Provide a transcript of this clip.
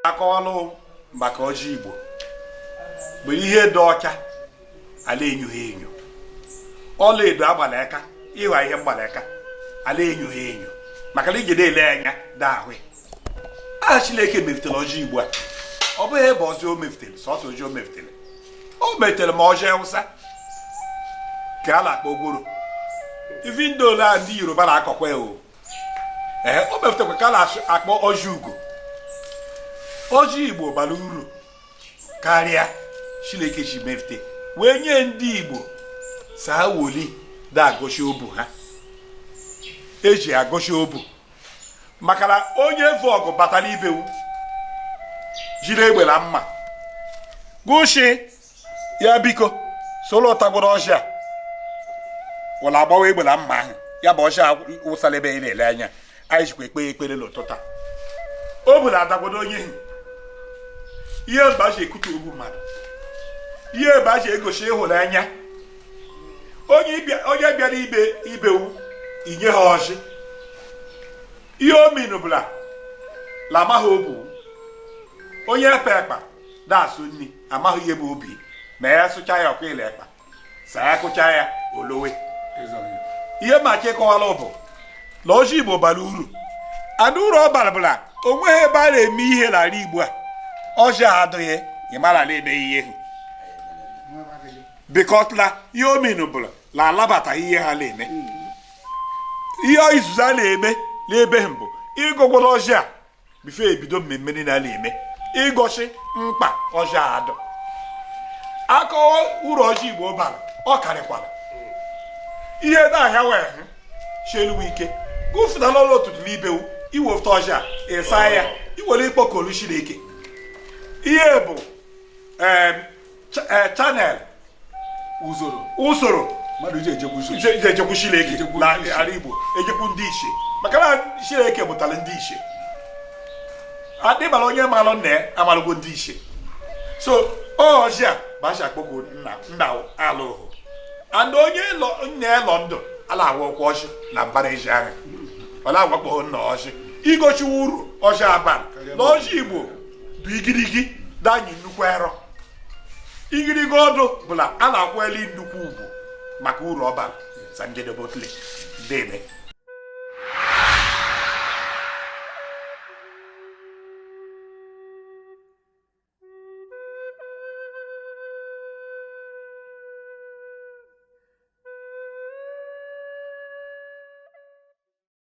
akọwalụ maka ọjị igbo bụ ihe dị ọcha ala enyoghị enyo ọla edo agbala aka ịghọ ihe mgbala aka ala enyoghị enyo maka na ijide ele anya dị ahụ aha chineke mefutere ọjị igbo a ọ bụghị ebe ọzọ o mefutere sọsọ ọjị o mefutere o metere ma ọjị awụsa ka a na-akpọ gworo ivi ndị ole a ndị yoruba na-akọkwa ya o ee o mefutekwa ka a na-akpọ ọjị ugo ọjị igbo bara uru karịa chineke ji mefute wee nye ndị igbo saa woli da-agọchi obu ha eji agọchi obu maka na onye vu ọgụ batara ibewu jiri egbe na mma gụshi ya biko soro tagodu ọjị a wụla agbawa egbe na mma ahụ ya bụ ọjị a wụsara ebe anyị na-ele anya anyị jikwa ekpe ekpere n'ụtụtụ ọ bụla adagbodo onye ihu ihe mba ji ekute obu mmadụ ihe mba ji egosi ịhụnanya onye bịara ibewu i nye ha ọjị ihe ominu bụla lamaghị obu onye epe ekpa na-asụ nri amaghị ihe bụ obi ma ya sụcha ya ọkụ ile ekpa sa ya kụcha ya olowe ihe maka ịkọwara bụ na ọjị igbo bara uru and uru ọ bara bụ la o nweghị ebe a na-eme ihe n'ala igbo a ọjị adịghị a mara na-eme ihe bikọt na ihe ominu bụla na alabataghị ihe ha na-eme ihe izizi a na-eme n'ebe ahụ bụ ịgọgodu ọjị a before e bido mmemme niile a na-eme igosi mkpa ọjị adụ akọwa uru ọjị igbo bara ọ karịkwara ihe na ahịa wee hụ cheluwe ike gụfụta n'ụlọ ụtụtụ n'ibewu i wefụta ọjị a ị saa ya i were kpọkolu chineke ihe bụ eh, channel usoro usoro mmadụ ji ejekwu Chineke na ala Igbo ejekwu ndị ichie maka na Chineke mụtara ndị ichie adịbara onye malụ nna ya amalụgo ndị ichie so ọjị a bụ e ji akpọkwu nna nna alụhụ and onye nna ya lọ ndụ ala awakwụ ọjị na mbara ezi ahụ ọ na-awakpọghị nna ọjị igosi uru ọjị a bara na ọjị Igbo bụ igirigi da-anyị nnukwu arọ igirigi ọdụ bụla a na-akwanyeli nnukwu ugwu maka uru ọ bara sa njedebe otule deme